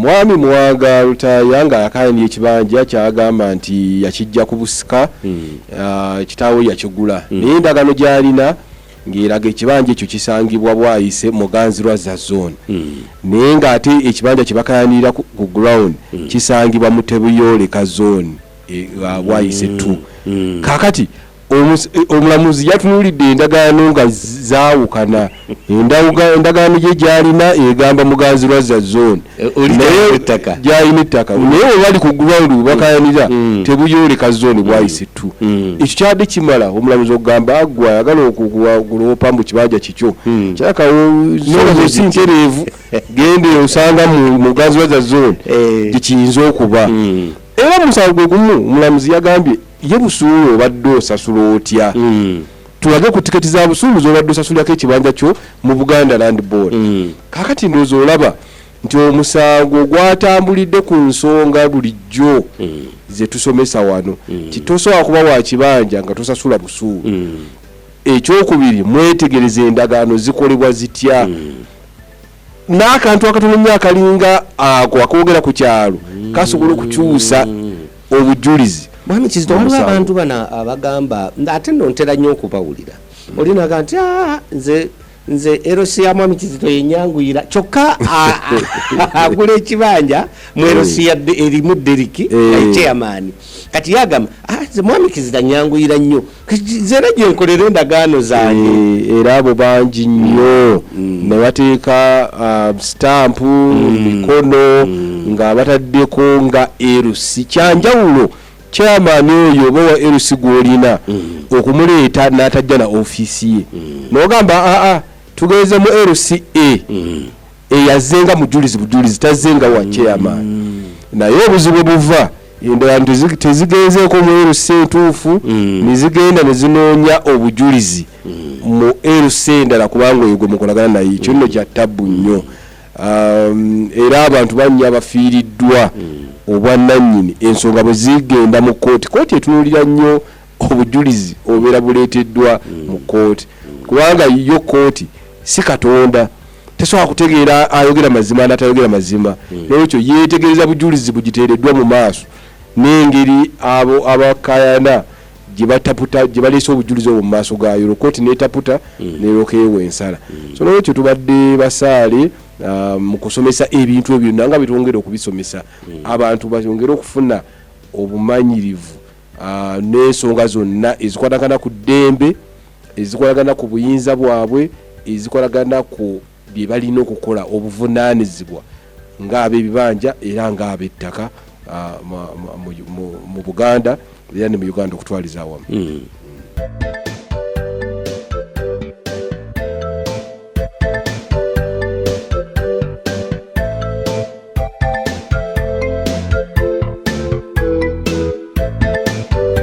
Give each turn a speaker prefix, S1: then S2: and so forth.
S1: Mwami Mwanga Lutaaya nga yakayanira ekibanja kyagamba nti yakijja ku busika ah, kitaawe yakigula naye endagaano gy'alina ng'eraga ekibanja ekyo kisangibwa Bwaise mu Muganzirwazza zone naye ng'ate ekibanja kye bakayanirira ku ku ground kisangibwa mu Tebuyooleka zone e, ah, Bwaise 2 kaakati omulamuzi yatunuulidde endagaano nga zaawukana endagaano gye gyalina egamba muganzi lwazza zone eh, gyalina ettaka mm. naye webali ku ground webakayanira mm. mm. tebuyooleka zone bwayise ttu ekyo kyadde kimala omulamuzi okugamba agwe ayagala okuwaguloopa mbu kibanja kikyo kyakawosi ntereevu gende osanga muganzi lwazza zone eh. gyekiyinza okuba era musango gwe gumu omulamuzi yagambye ye busuulu obadde osasula otya mm. tulage ku tiketi za busuulu zobadde osasulirako ekibanja kyo mu buganda land board mm. kakati ndoozi olaba nti omusango gwatambulidde ku nsonga bulijjo mm. zetusomesa wano mm. titosobola kuba wa kibanja nga tosasula busuulu mm. ekyokubiri mwetegereza endagaano zikolebwa zitya mm. n'akantu akatono nnyo akalinga ako akoogera ku kyalo kasobola okukyusa obujulizi mwami kizito waliwo
S2: abantu bano abagamba ate no ntera nnyo okubawulira olinaga nti ah, nze nze erosi ya mwami kizito yenyanguyira kyokka agula ekibanja mu eh. erosi ya erimu deriki eh. chairman kati yagamba ah, nze mwami kizito anyanguyira nnyo nze era gyenkolera endagaano zange eh, era abo bangi
S1: nnyo mm. mm. ne bateeka uh, sitampu mm. mikono nga bataddeko nga erusi kyanjawulo kyamaani oyo oba wa erusi gwolina okumuleeta n'atajja na ofiisi ye nogamba aa ah, tugenze mu rca eyazenga mujulizi bujulizi tazenga wa chairman naye obuzibu buva endala tezigenzeeko mu LC entuufu mm. nezigenda nezinoonya obujulizi mm. mu LC endala kubanga oyo gwe mukolagana naye ekyo nno mm. kya tabbu nnyo um, era abantu bannya abafiiriddwa obwannannyini ensonga bwe zigenda mu kooti kooti etunuulira nnyo obujulizi obeera buleeteddwa mu kooti kubanga yo kooti si katonda tesobola kutegeera ayogera mazima natayogera mazima hmm. nolwekyo yetegereza bujulizi bugiteereddwa mu maaso n'engeri abo abakayana gyebataputa gyebaleese obujulizi obwo mu maaso gayo olwo kooti netaputa hmm. nerokeewo ensala hmm. so nolwekyo tubadde basaale ah, mu kusomesa ebintu ebyo byonna nga byetwongere okubisomesa abantu bayongere okufuna obumanyirivu ah, n'ensonga zonna ezikwatagana ku ddembe ezikolagana ku buyinza bwabwe ezikolagana ku bye balina okukola obuvunaanizibwa ng'ab'ebibanja era ng'ab'ettaka ah, ma- ma- mu- mu- mu buganda era ne mu uganda okutwaliza awamu